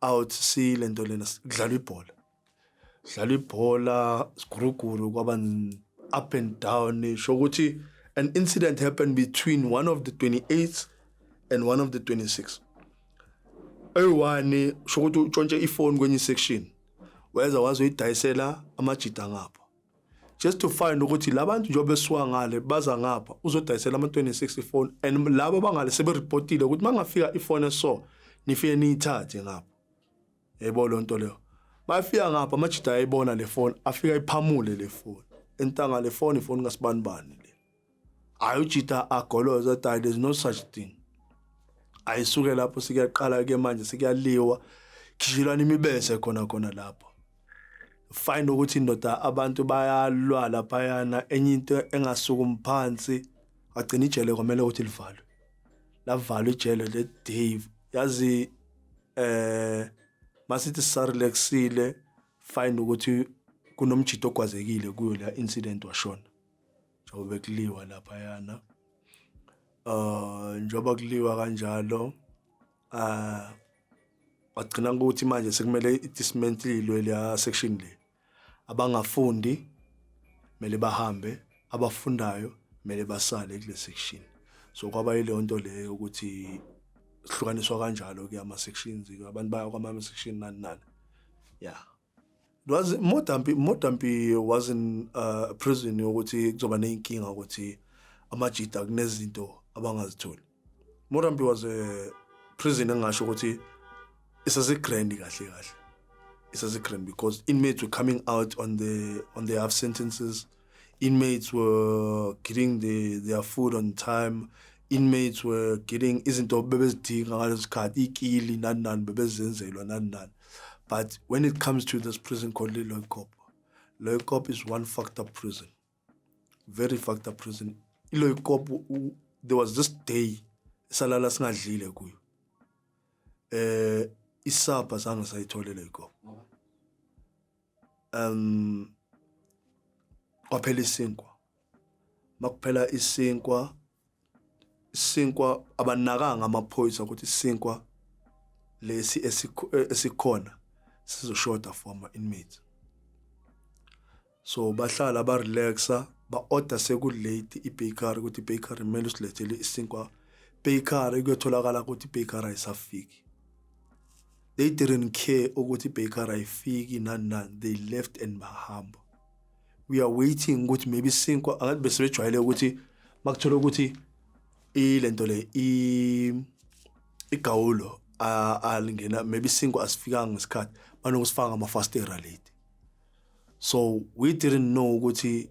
out sile nto lena kudlalwa ibhola dlalwa ibhola siguruguru kwaba up and down sho ukuthi an incident happened between one of the 28 and one of the 26 eyi-one sho ukuthi utshontshe ifoni kwenye isection weza wazoyidayisela amajida ngapho just to find ukuthi labantu njengoba besuka ngale baza ngapha uzodayisela ama 26 ifone and laba bangale sebe reportile ukuthi mangafika ifone so nifike niyithathe ngapha yebo lo nto leyo mayifika ngapha amajida ayibona le foni afika iphamule le foni entanga le foni ifoni kasibani bani hayi ujita agoloza thy there's no such thing ayisuke lapho sikuyaqala ke manje sikuyaliwa khishilwana imibese khona khona lapho find ukuthi indoda abantu bayalwa laphayana enye into engasukumi phansi agcina ijele kwamele ukuthi livalwe lavalwa ijele le Dave yazi eh masithi sarelexile find ukuthi kunomjito ogwazekile kuyo la incident washona njengoba bekuliwa laphayana uh njengoba kuliwa kanjalo uh wagcina ukuthi manje sekumele idismantlilwe leya section le abangafundi kumele bahambe abafundayo kumele basale kule section so kwaba yileyo nto leyo ukuthi sihlukaniswa kanjalo ke ama sections abantu baya kwama section nani nani yeah was more than more than be was in uh, prison ukuthi kuzoba nezinkinga ukuthi amajita kunezinto abangazitholi more than be was a prison engasho ukuthi isase grand kahle kahle isase grand because inmates were coming out on the on their half sentences Inmates were getting the, their food on time. Inmates were getting izinto bebezidinga ngalesikhathi ikili nani nani bebezenzelwa nani nani. But when it comes to this prison called Loikop, Loikop is one fucked up prison. Very fucked up prison. Loikop there was this day salala singadlile kuyo. Eh isapha zange sayitholele Loikop. um kwaphela isinkwa makuphela isinkwa isinkwa abanakanga amaphoyisa ukuthi isinkwa lesi esikhona sizoshoda for ama inmates so bahlala ba relaxa ba order seku late i bakery ukuthi bakery mele usilethele isinkwa bakery kuyotholakala ukuthi bakery ayisafiki They didn't care ukuthi Baker ayifiki nani nani they left and bahamba. We are waiting ukuthi maybe sinkwa angathi bese bejwayele ukuthi makuthola ukuthi ilento le i igawulo alingena maybe sinkwa asifikanga ngesikhathi banokusifaka ama fastera late. So we didn't know ukuthi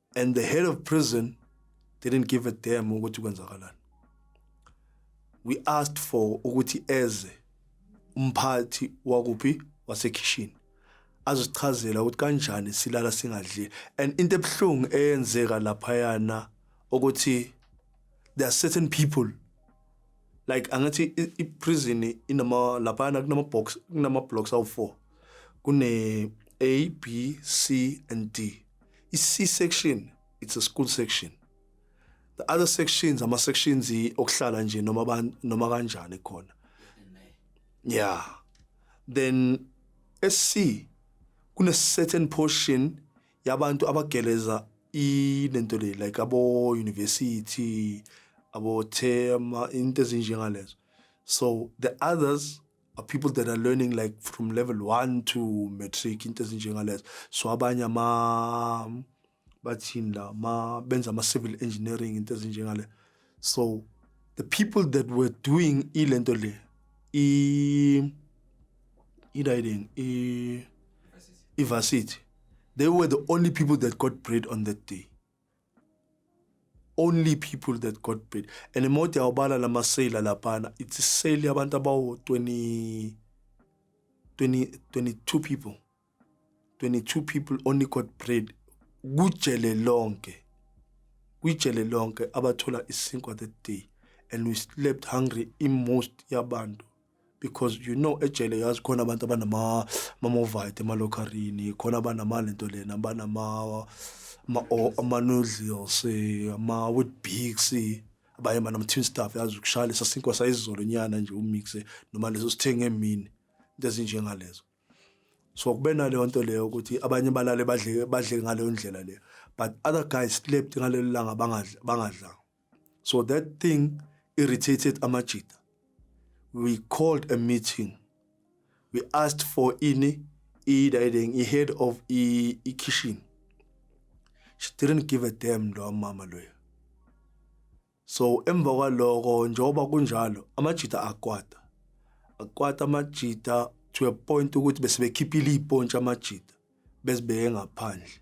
and the head of prison didn't give a damn ukuthi kwenzakalani we asked for ukuthi eze umphathi wakuphi wasekhishini azochazela ukuthi kanjani silala singadli and into ebuhlungu eyenzeka lapha yana ukuthi there are certain people like angathi iprison inama lapha yana kunama box kunama blocks awu4 kune A B C and D I-C section it's a school section. The other sections ama sections okuhlala nje noma abantu noma kanjani khona. Yeah. Then SC kune certain portion yabantu abageleza ilento le like abo university abo thema into ezinjengalezo so the others are people that are learning like from level 1 to matric into ezinjengalezo so abanye ama bathini la ma benza ama civil engineering into ezinjengale so the people that were doing ilento le i idayini i ivarsity they were the only people that got bread on that day only people that got paid and mode yawubala lama sale laphana it's sale yabantu abawo 20 20 22 people 22 people only got paid kujele lonke kwijele lonke abathola isinkwa that day and we slept hungry in most yabantu because you know ejele yazi khona abantu abanama mamovite emalokharini khona abanama lento lena abanama ma ama noodles ama with bigs abaye mana mthin staff yazi ukushaya lesa sinkwa sayizolo nyana nje umixe noma leso sithenge emini into ezinjengalezo so kube naleyo nto leyo ukuthi abanye balale badle badle ngaleyo ndlela leyo but other guys slept ngalelo langa bangadla bangadlanga So that thing irritated Amajita. We called a meeting. We asked for ini i-dining, i-head of i-kitchen. She didn't give a damn lo mama loyo. So emva kwaloko njengoba kunjalo amajita akwata. Akwata amajita to a point ukuthi besebekhiphile ipontshi amajita besibeke ngaphandle.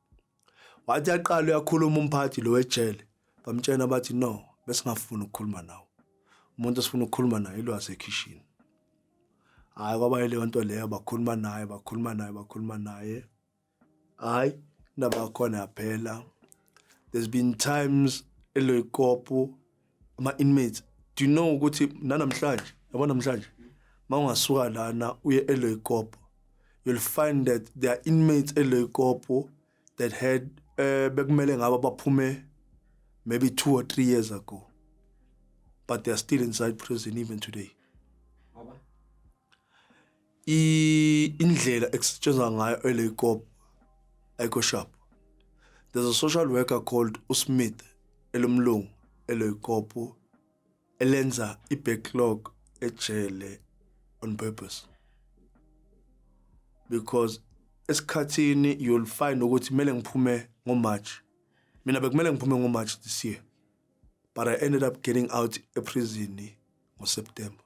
wathi aqala uyakhuluma umphathi lo wejele bamtshena bathi no besingafuni ukukhuluma nawo umuntu esifuna ukukhuluma naye ilo wasekhishini hayi kwaba leyo nto leyo bakhuluma naye bakhuluma naye bakhuluma naye hayi indaba yakhona yaphela there's been times eloyikopo ama inmates do you know ukuthi nanamhlanje yabo namhlanje mawungasuka lana uye eLoykopo you'll find that there are inmates eLoykopo that had eh bekumele ngaba baphume maybe 2 or 3 years ago but they are still inside prison even today i- indlela ekusetshenzwa ngayo eleyikopo ayikho sharp there's a social worker called usmith elomlungu eleyikopo elenza i-backlog ejele on purpose because esikhathini you'll find ukuthi kumele ngiphume ngomarch mina bekumele ngiphume ngomarch this year but i ended up getting out eprison ngoseptember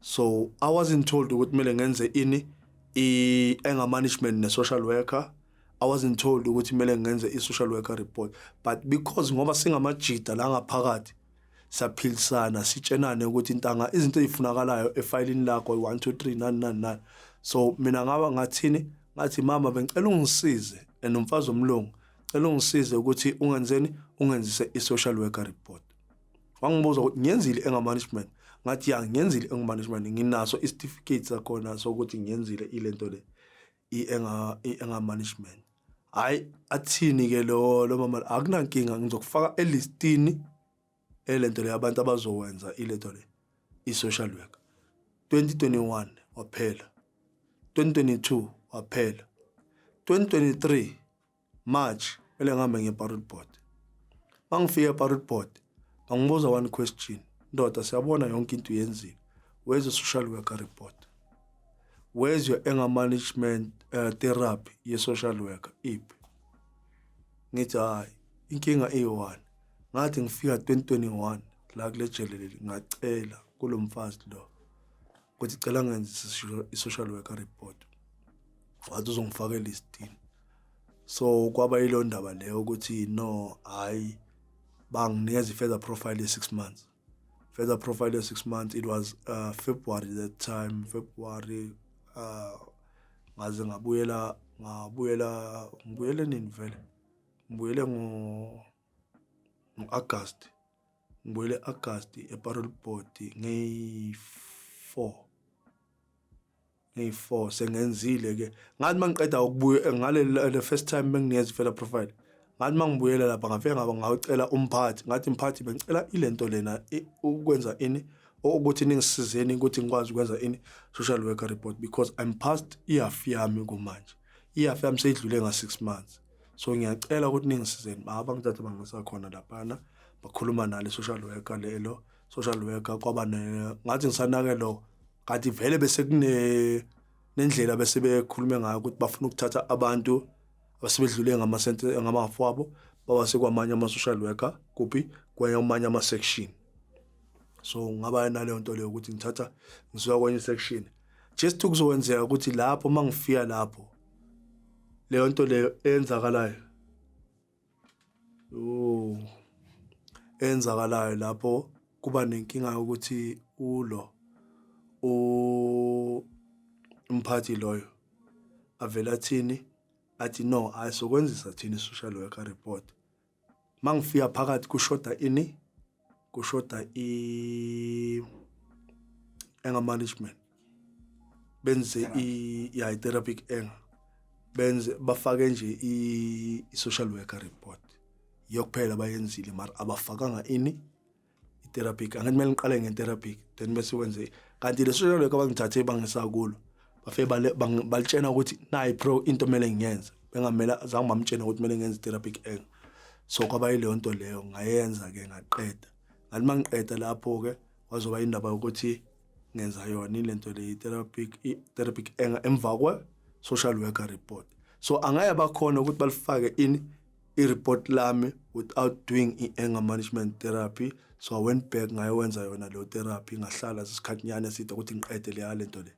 so i wasn't told ukuthi kumele ngenze ini i-anger management ne-social worker i wasn't told ukuthi kumele ngenze i-social worker report but because ngoba singamajida la ngaphakathi saphilisana sitshenane ukuthi intanga izinto ezifunakalayo efayilini lakho 1 2 3 nani nani nani so mina ngaba ngathini ngathi mama bengicela ungisize and umfazi omlungu cela ungisize ukuthi ungenzeni ungenzise i-social worker report wangibuza ukuthi ngiyenzile engamanagement ngathi ya ngiyenzile engamanagement nginaso isitifiketi sakhona sokuthi ngiyenzile ilento le engamanagement hhayi athini-ke lo lo mama akunankinga ngizokufaka elistini elento le abantu abazowenza ilento le i-social worker 2021 waphela 2022 waphela 2023 March kumele ngihambe ngiye eParrot Board. Uma ngifika eParrot Board bangibuza one question, ndoda siyabona yonke into yenzile. Where's the social worker report? Where's your anger management uh, therapy ye-social worker? Iphi? Ngithi hhayi, inkinga iyi-one. Ngathi ngifika 2021 la kule jele leli ngacela kulo mfazi lo ukuthi cela ngenze i-social worker report wathi uzongifaka elistini so kwaba yilo ndaba leyo ukuthi no hayi banginikeza i-further profile ye-six months further profile ye-six months it was uh, february that time february uh, ngaze ngabuyela ngabuyela ngibuyele nini vele ngibuyele ngo ngo-August ngibuyele August eparol board ngeyi-four ngeyi-four sengenzile ke ngathi uma ngiqeda ukubuya eh, ngale the first time benginiyeza ifela profile ngathi uma ngibuyela lapha ngafike ngaba ngawucela umphathi ngathi mphathi bengicela ile nto lena ukwenza ini ukuthi ningisizeni ukuthi ngikwazi ukwenza ini social worker report because I'm past iyafi yami kumanje iyafi yami seyidlule nga-six months so ngiyacela ukuthi ningisizeni baba ngithathe bangisa khona laphana bakhuluma nale social worker lelo social worker kwaba ngathi ngisanake lo kanti vele bese kune nendlela bese bekhulume ngayo ukuthi bafuna ukuthatha abantu abasebedlule ngamasente ngamafu abo bawase kwamanye ama-social worker kuphi kwamanye ama-section so ngaba naleyo nto leyo ukuthi ngithatha ngisuka kwenye i-section just ukuzokwenzeka ukuthi lapho uma ngifika lapho leyo nto leyo eyenzakalayo yooh eyenzakalayo lapho kuba nenkinga yokuthi ulo umphathi loyo avele athini athi no ayisokwenzisa thina i-social worker report mangifika phakathi kushoda ini kushoda i anger management benze i ya therapeutic anger benze bafake nje i social worker report yokuphela bayenzile mara abafakanga ini i-terapic angathi kumele ngiqale nge-terapic then bese wenze kanti le social work abangithathe bangisakulo bafe balitshena ukuthi nayi pro into kumele ngiyenze bengamele zange bamtshena ukuthi kumele ngenze i-terapic eng so kwaba yileyo nto leyo ngayenza-ke ngaqeda ngathi uma ngiqeda lapho-ke kwazoba indaba yokuthi ngenza yona ile nto le i-terapic i-terapic eng emva kwe-social worker report so angeke bakhona ukuthi balifake ini i-report lami without doing i-anger management therapy so i went back ngayowenza yona leyo therapy ngahlala isikhathinyana eside ukuthi ngiqede leya le nto le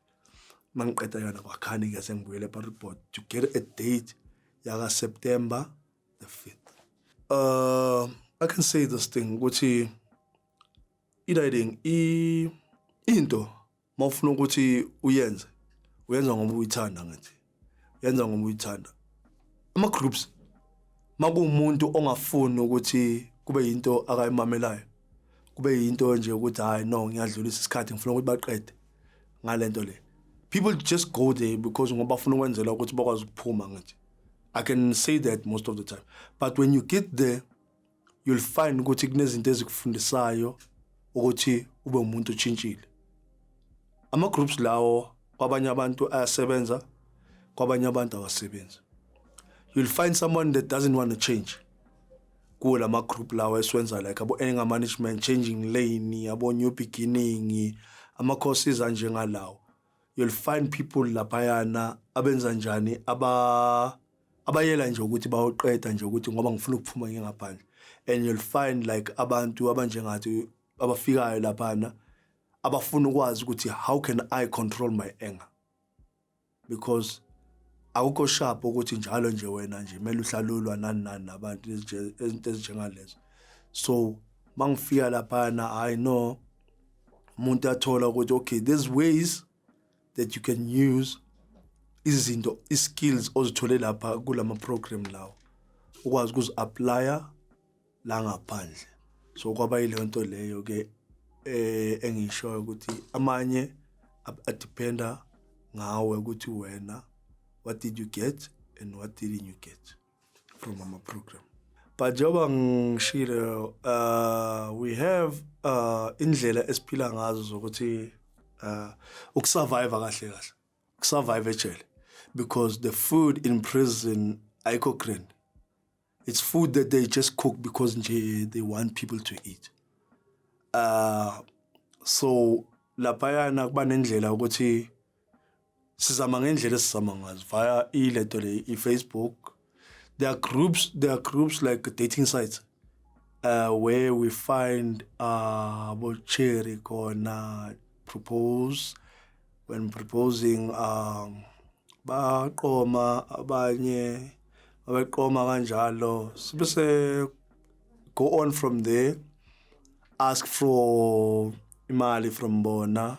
uma ngiqeda yona kwakhani ke sengibuyele epareport to get a date yakaseptember the fifth uh, i can say this thing ukuthi i-riding into uma ufuna ukuthi uyenze uyenza ngoba uyithanda ngathi yenza ngoba uyithanda ama groups makuwumuntu ongafuni ukuthi kube yinto akayimamelayo kube yinto nje ukuthi hayi no ngiyadlulisa isikhathi ngifuna ukuthi baqede ngalento le people just go there because ngoba bafuna ukwenzela ukuthi bakwazi ukuphuma ngathi i can say that most of the time but when you get there you'll find ukuthi kunezinto ezikufundisayo ukuthi ube umuntu otshintshile ama groups lawo kwabanye abantu ayasebenza kwabanye abantu awasebenzi you'll find someone that doesn't want to change kuwo lama group lawo esiwenza like abo anger management changing lane abo new beginning ama courses anje ngalawo you'll find people laphayana abenza njani aba abayela nje ukuthi bayoqeda nje ukuthi ngoba ngifuna ukuphuma ngingaphandle and you'll find like abantu abanjengathi abafikayo laphana abafuna ukwazi ukuthi how can i control my anger because akukho sharp ukuthi njalo nje wena nje kumele uhlalulwa nani nani nabantu izinto ezinjengalezo so mangifika laphana i know umuntu athola ukuthi okay there's ways that you can use izinto iskills ozithole lapha kulama program lawo ukwazi ukuzi applya la ngaphandle so kwaba yileyo nto leyo ke eh engishoyo ukuthi amanye adependa ngawe ukuthi wena what did you get and what didn't you get from our program but njengoba ngishilo uh, we have uh, indlela esiphila ngazo zokuthi uh, ukusurvive kahle kahle ukusurvive ejele because the food in prison ayikho grand it's food that they just cook because nje they want people to eat uh so laphayana kuba nendlela ukuthi sizama ngendlela esizama ngazo via ilento le i-facebook there are groups there are groups like dating sites uh, where we find uh, bocherry khona propose when proposing um, baqoma abanye abeqoma kanjalo sibe se go on from there ask for imali from bona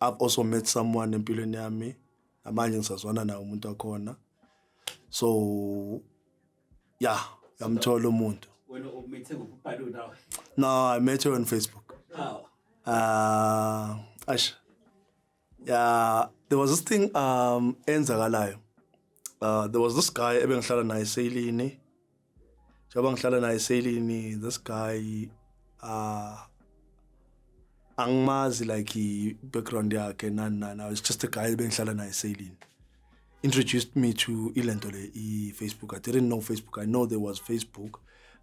I've also met someone empilweni yami namanje ngisazwana naye umuntu wakhona so ya yamthola umuntu wena umithe ngokubhala nawe no i met her on facebook how uh ash yeah there was this thing um enzakalayo uh there was this guy ebengihlala naye eSeyilini njengoba ngihlala naye eSeyilini this guy uh angimazi like i-background yakhe nani nani i was just a guy bengihlala naye eSeyilini introduced me to ilento le i-facebook i didn't know facebook i know there was facebook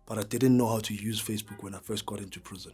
but i didn't know how to use facebook when i first got into prison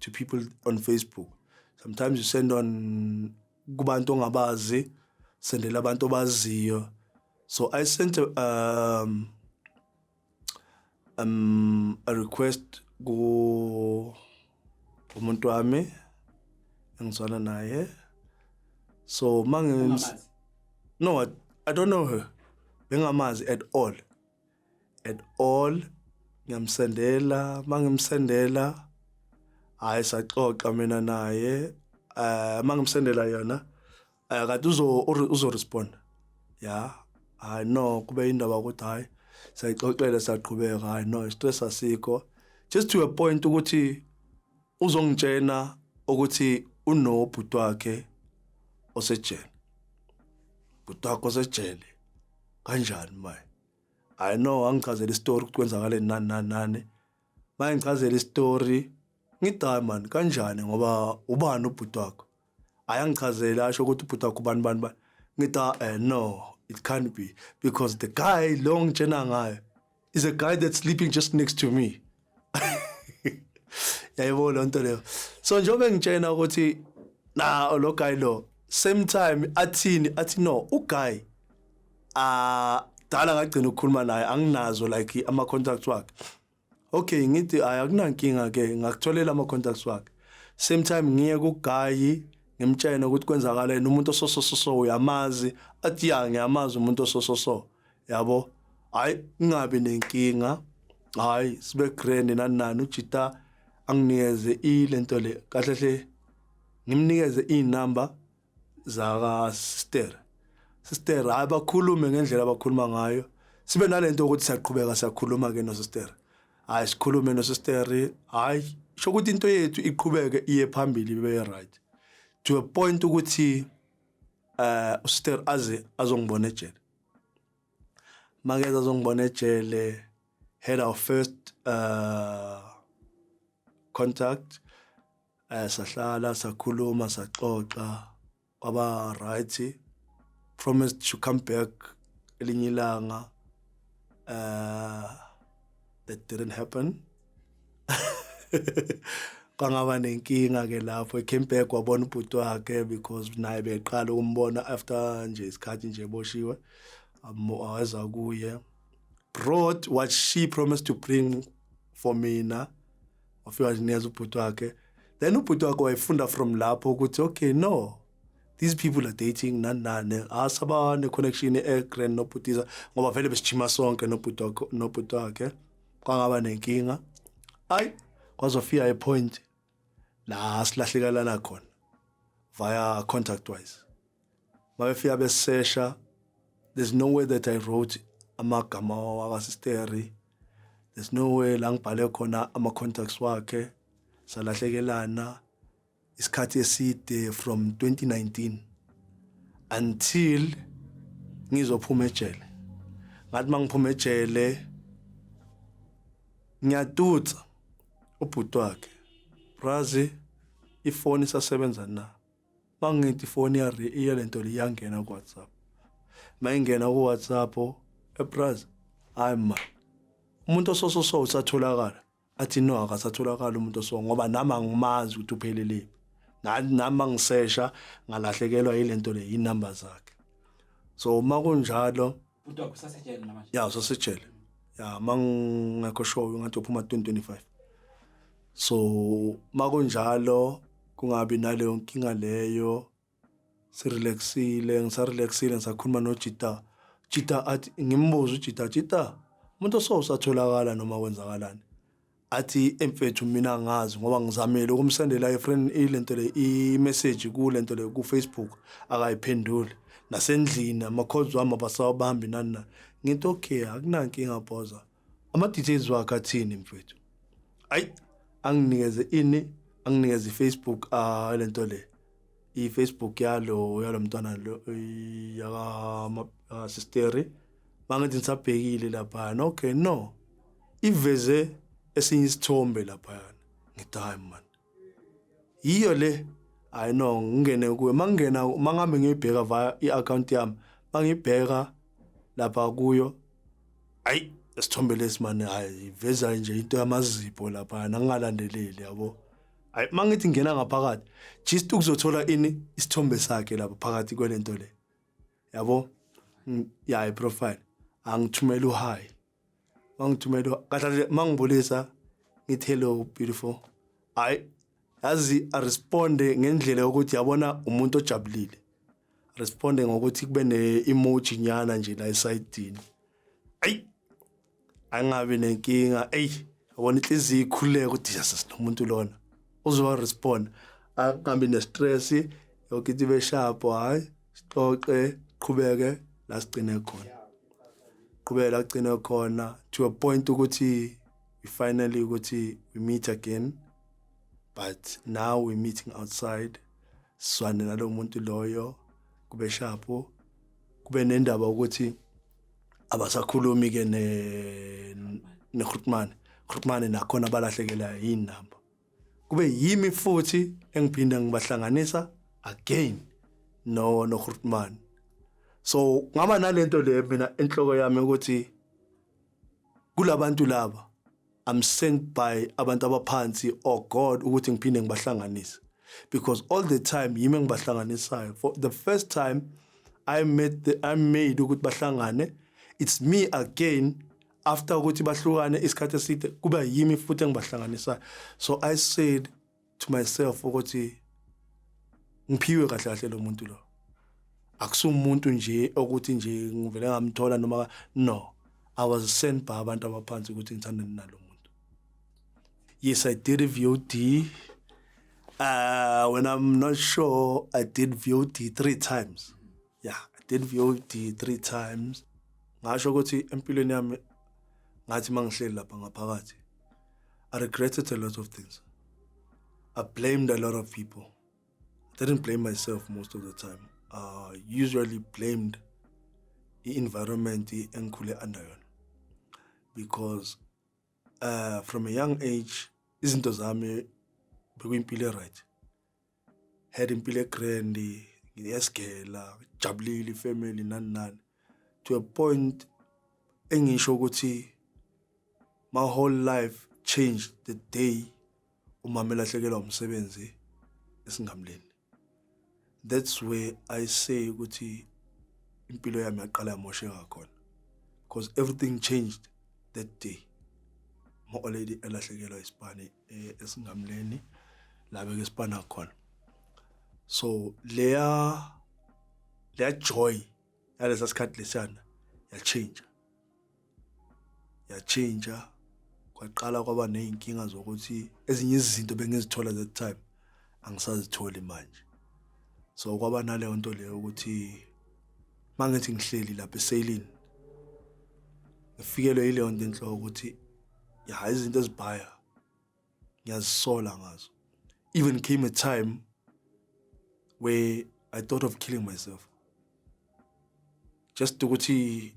to people on Facebook. Sometimes you send on kubantu ongabazi, sendela abantu obaziyo. So I sent a, um, um, a request ku umuntu wami engizwana naye. So mangi No, I, I don't know her. Bengamazi at all. at all ngiyamsendela mangimsendela hayi saxoxa mina naye eh mangimsendela yona eh, kade uzo uzo respond ya hayi no kube indaba ukuthi hayi sayixoxele saqhubeka hayi no stress asikho just to a point ukuthi uzongitshena ukuthi unobhuti wakhe osejele bhuti wakho osejele kanjani manje I know angichazela istory ukuthi kwenzakale nani nani nani. Mangichazela istory ngidai man kanjani ngoba ubani ubhuti wakho? Ayangichazela asho ukuthi ubhuti wakho ubani bani bani. Ngida eh no it can't be because the guy long tshena ngayo is a guy that's sleeping just next to me. yayibona lonto leyo so njengoba ngitshena ukuthi na lo guy lo same time athini athi no u guy ah dala ngagcina ukukhuluma naye anginazo like ama contacts wakhe okay ngithi ay akunankinga ke ngakutholela ama contacts wakhe same time ngiye ku guy ngimtshene ukuthi kwenzakaleni umuntu ososososo uyamazi athi ya ngiyamazi umuntu osososo yabo hayi ngingabi nenkinga hayi sibe grand nani nani ujita anginikeze ilento le kahle hle ngimnikeze izinamba zaka sister sister hayi bakhulume ngendlela abakhuluma ngayo sibe nalento ukuthi siyaqhubeka siyakhuluma ke no sister hayi sikhulume no sister hayi sho ukuthi into yethu iqhubeke iye phambili ibe right to a point ukuthi eh usister aze azongibona ejele Makeza azongibona ejele had our first uh contact eh sahlala sakhuluma saxoxa waba right promised to come back elinye ilanga uh that didn't happen kwangaba nenkinga ke lapho ecame back wabona ubhuti wakhe because naye beqala ukumbona after nje isikhathi nje boshiwe aweza kuye brought what she promised to bring for mina wafika nginikeza ubhuti wakhe then ubhuti wakhe wayefunda from lapho ukuthi okay no these people are dating nani nani asaba ne-connection e-grand nobhutiza ngoba vele besijima sonke nobhuti wakhe kwangaba nenkinga ayi kwazofika ipoint la silahlekelana khona via contact wise mabefika besesha there's no way that i wrote amagama wakasisteri there's no way la ngibhale khona ama-contacts wakhe salahlekelana isikhathi eside from 2019 until ngizophuma ejele ngathi mangiphuma ejele ngiyatutsa ubhuti wakhe brazi ifoni isasebenza na mangithi ifoni ya iya lento liyangena ku WhatsApp mayingena ku WhatsApp ebrazi hayi ma umuntu osososo usatholakala athi no akasatholakala umuntu oso ngoba nami angimazi ukuthi uphelele nami ngisesha ngalahlekelwa yilento le inamba zakhe so uma kunjalo uDog usasejele namanje ya usasejele ya mangekho show ngathi uphuma 2025 so makunjalo kungabi naleyo nkinga leyo sirelaxile ngisarelaxile ngisakhuluma nojita jita athi ngimbuza ujita jita umuntu osose atholakala noma kwenzakalani athi emfethu mina ngazi ngoba ngizamile ukumsendela ifriend ilento le imessage kulento le kufacebook akayiphenduli nasendlini ama-calls wami abasawabambi nani na ngithi okay akunankinga bhoza Ama details wakhe athini mfethu? Ay anginikeze ini? Anginikeze Facebook ah lento le. I Facebook yalo yalomntwana lo yaka sister. Mangithi ngisabhekile lapha. Okay no. Iveze esinye isithombe lapha. Ngithi hayi man. yiyo le hayi no ngingene kuwe mangingena mangihambe ngiyibheka via i-akhawunti yami mangibheka lapha kuyo ayi isithombe lesi mani hayi iveza nje into yamazipho lapha nangingalandeleli yabo hayi mangithi ngena ngaphakathi just ukuzothola ini isithombe sakhe lapha phakathi kwelento le yabo mm, ya iprofile angithumela uhayi mangithumela kahle mangibulisa ngithi hello beautiful hayi yazi aresponde ngendlela yokuthi yabona umuntu ojabulile responde ngokuthi kube ne-emoji nyana nje la esayidini ayi angabi nenkinga eyi yabona inhliziyo ikhululeka ukuthi jesus nomuntu lona uzowa respond angabi ne-stress yokuthi ibe sharp hhayi sixoxe qhubeke la sigcine khona qhubeke la sigcine khona to a point ukuthi we finally ukuthi we meet again but now we meeting outside swane nalo muntu loyo kube shapo kube nendaba ukuthi abasakhulumi ke ne neGrutman Grutman nakhona balahlekela yini namba kube yimi futhi engiphinda ngibahlanganisa again no no Grootman so ngaba nalento le mina enhloko yami ukuthi kulabantu laba I'm sent by abantu abaphansi or oh God ukuthi ngiphinde ngibahlanganise because all the time yimi engibahlanganisayo for the first time I met the, I made ukuthi bahlangane it's me again after ukuthi bahlukane isikhathi eside kuba yimi futhi engibahlanganisayo so i said to myself ukuthi ngiphiwe kahle kahle lo muntu lo akusumuntu nje okuthi nje ngivele ngamthola noma no i was sent by abantu abaphansi ukuthi ngithandane nalo muntu yes i did a vod uh when i'm not sure i did vod three times Yeah, I did VOD three times. Ngasho ukuthi empilweni yami ngathi mangihleli lapha ngaphakathi. I regretted a lot of things. I blamed a lot of people. I didn't blame myself most of the time. I uh, usually blamed the environment engikhule under yona because uh, from a young age izinto zami bekuyimpilo right had impilo egrand ngiyesigela ngijabulile ifamily nani nani to a point engisho ukuthi my whole life changed the day umama elahlekelwa umsebenzi esingamleni that's where i say ukuthi impilo yami yaqala yamoshe ngakhona because everything changed that day ma-oledi elahlekelwa isibani eh, esingamleni la beke sibhana khona so leya leya joy yalesa sikhathi lesiyana yatshintsha yatshintsha kwaqala kwaba nezinkinga zokuthi ezinye izinto bengizithola that time angisazitholi manje so kwaba naleyo nto leyo ukuthi mangithi ngihleli lapha esailini ngifikelwe yileyo nto enhloko ukuthi ya izinto ezibhaya ngiyazisola ngazo even came a time where i thought of killing myself just ukuthi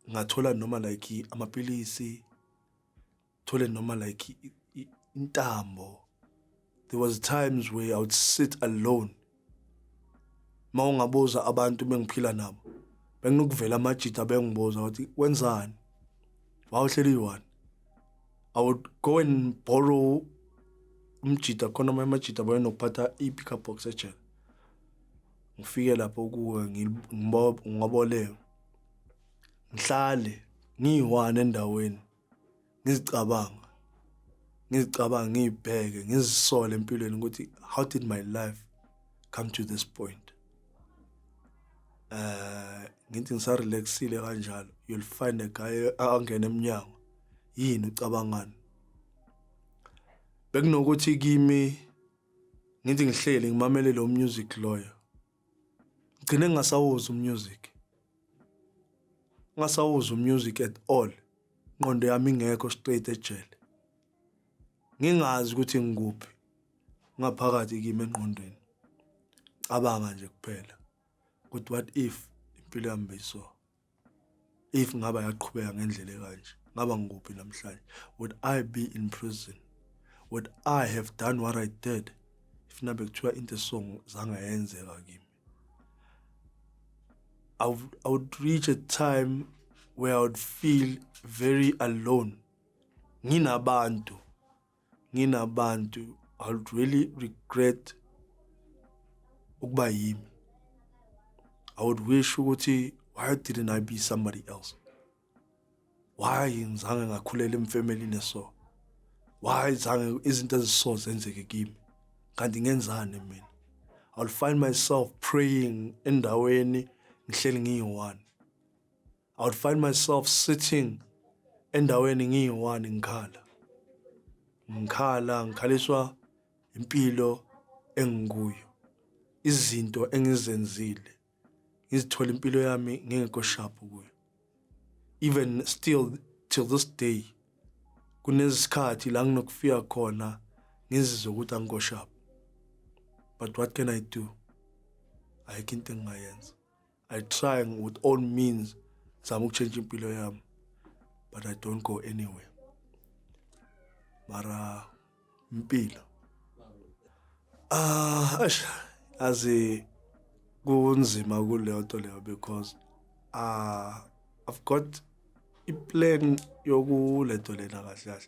ngathola noma like amapilisi thole noma like intambo there was times where i would sit alone uma ungabuza abantu bengiphila nabo benginokuvela amajita bengibuza ukuthi wenzani wawuhleli one i would go and borrow umjita khona amanye amajita bayenokuphatha i-pickup box ejele ngifike lapho kuwe ngiboboleke ngihlale ngiyi-one endaweni ngizicabanga ngizicabanga ngiyibheke ngizisole empilweni ukuthi how did my life come to this point eh ngithi ngisarelaxile kanjalo you'll find a guy angena emnyango yini ucabangani bekunokuthi kimi ngithi ngihleli ngimamele lo music loyo ngigcine ngingasawuzwa umusic ngingasawuzwa umusic at all ingqondo yami ingekho straight ejele ngingazi ukuthi ngikuphi ngaphakathi kimi engqondweni cabanga nje kuphela ukuthi what if impilo yami beyiso if ngaba yaqhubeka ngendlela ekanje ngaba ngikuphi namhlanje would i be in prison would i have done what i did if nabe kuthiwa into esong zange yenzeka kimi I would, I would reach a time where I would feel very alone nginabantu nginabantu I would really regret ukuba yimi I would wish ukuthi why didn't I be somebody else why ngizange ngakhulela emfamily neso why zange izinto eziso zenzeke kimi kanti ngenzani mina I'll find myself praying endaweni ngihleli ngiyi-one I would find myself sitting endaweni ngiyi-one ngikhala. Ngikhala, ngikhaliswa impilo engikuyo. Izinto engizenzile, ngizithola impilo yami ngingekho sharp kuyo. Even still till this day kunesikhathi la nginokufika khona ngizizwe ukuthi angikho sharp. But what can I do? Ayikho into engingayenza. I trying with all means zama ukutshentsha impilo yami but I don't go anywhere. Mara impilo. Ah, ash, azi kunzima kuleyo nto leyo because ah I've got iplan yokulento lena kahle kahle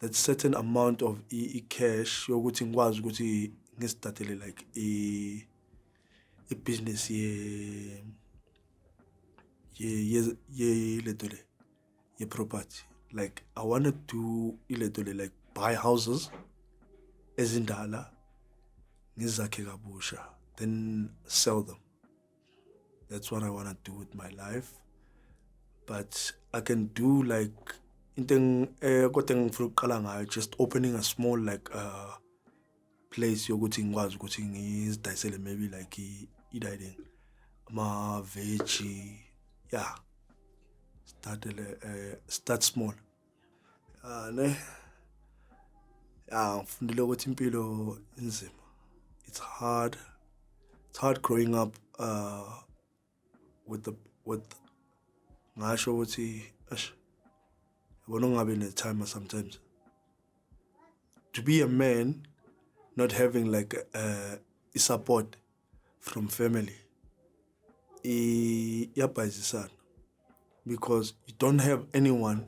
that certain amount of i-cash yokuthi ngikwazi ukuthi ngistartele like i-business ye ye ye ye lento le ye property like i want to do ilento le like buy houses ezindala ngizakhe kabusha then sell them that's what i want to do with my life but i can do like into eh kodwa engifuna ukuqala ngayo just opening a small like uh place yokuthi ngikwazi ukuthi ngizidayisele maybe like i-dining ama veggie yeah start uh, start small ane ah ngifundile ukuthi impilo inzima it's hard it's hard growing up uh with the with ngasho ukuthi ash yabona ungabe ne time sometimes to be a man not having like uh, support from family iyabhayizisana because you don't have anyone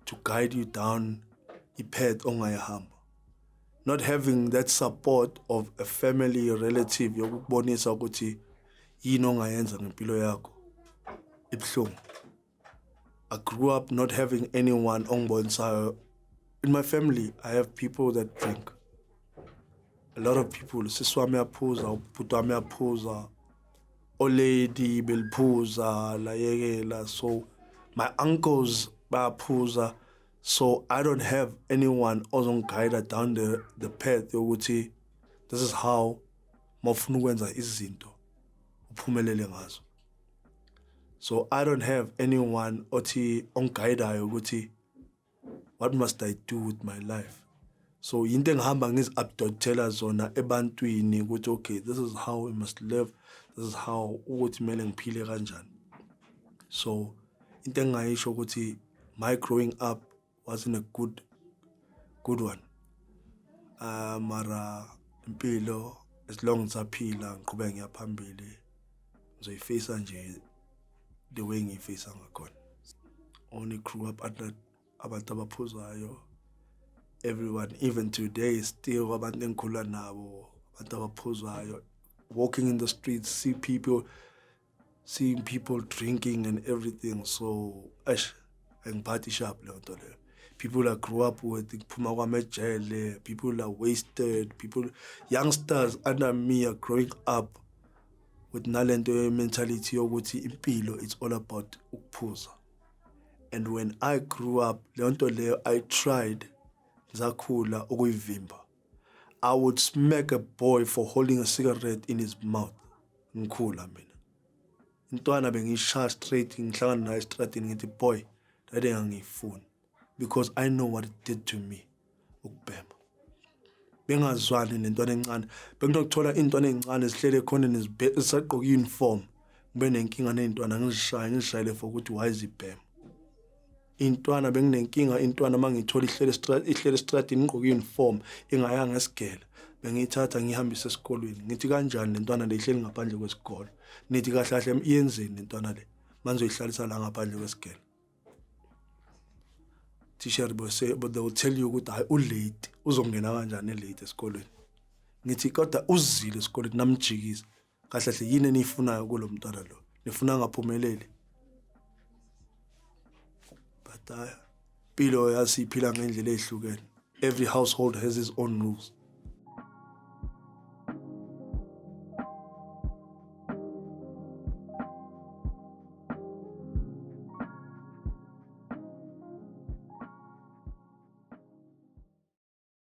to guide you down ipath ongayihamba not having that support of a family relative yokubonisa ukuthi yini ongayenza ngempilo yakho ibuhlungu I grew up not having anyone ongbonsayo. In my family, I have people that drink. A lot of people, sisi wami yaphuza, ubhuti wami yaphuza, olady beliphuza, layekela. So my uncles bayaphuza. So I don't have anyone ozongiguide down the, the path yokuthi this is how mawufuna ukwenza izinto uphumelele ngazo. so i don't have anyone othi ongigayidayo ukuthi what must i do with my life so yinto engihamba ngizi-updotela zona ebantwini ukuthi okay this is how i must live this is how ukuthi kumele ngiphile kanjani so into engingayisho ukuthi my growing up wasn't a good good one uh, mara impilo as long ngisaphila ngiqhubeka ngiyaphambili ngizoyifisa nje the way ngiyifisa ngakhona only grew up under abantu abaphuzayo everyone even today still abantu engikhula nabo abantu abaphuzayo walking in the streets see people seeing people drinking and everything so eish angiphathi sharp leyo nto leyo people are grew up with kuphuma kwamejele people are wasted people youngsters under me are growing up with nalento ye-mentality yokuthi impilo it's all about ukuphuza and when i grew up leyo nto leyo i tried zakhula ukuyivimba I would smack a boy for holding a cigarette in his mouth. Ngikhula mina. Intwana bengishaya straight ngihlangana naye estradini ngithi boy dade ngangiyifuni because I know what it did to me ukubhema. Bengazwani nentwana encane. Benginokuthola intwana ezincane zihlele ekhoneni zisagqoka uniform. Ngibe nenkinga nezintwana ngizishaye ngizishayele for ukuthi why zibhema. intwana benginenkinga intwana uma ngiyithola ihlele ihlele estradini ngigqoke i-uniform ingayanga esigela bengiyithatha ngihambise esikolweni ngithi kanjani le ntwana le ihleli ngaphandle kwesikole nithi kahle kahle iyenzeni le ntwana le manje uyihlalisa la ngaphandle kwesigela teacher bose but they will tell you ukuthi hayi ulate uzongena kanjani elate esikolweni ngithi kodwa uzile esikolweni namjikisa kahle hle yini eniyifunayo kulo mntwana lo nifuna angaphumeleli but hayi uh, impilo yazi iphila ngendlela ehlukene every household has its own rules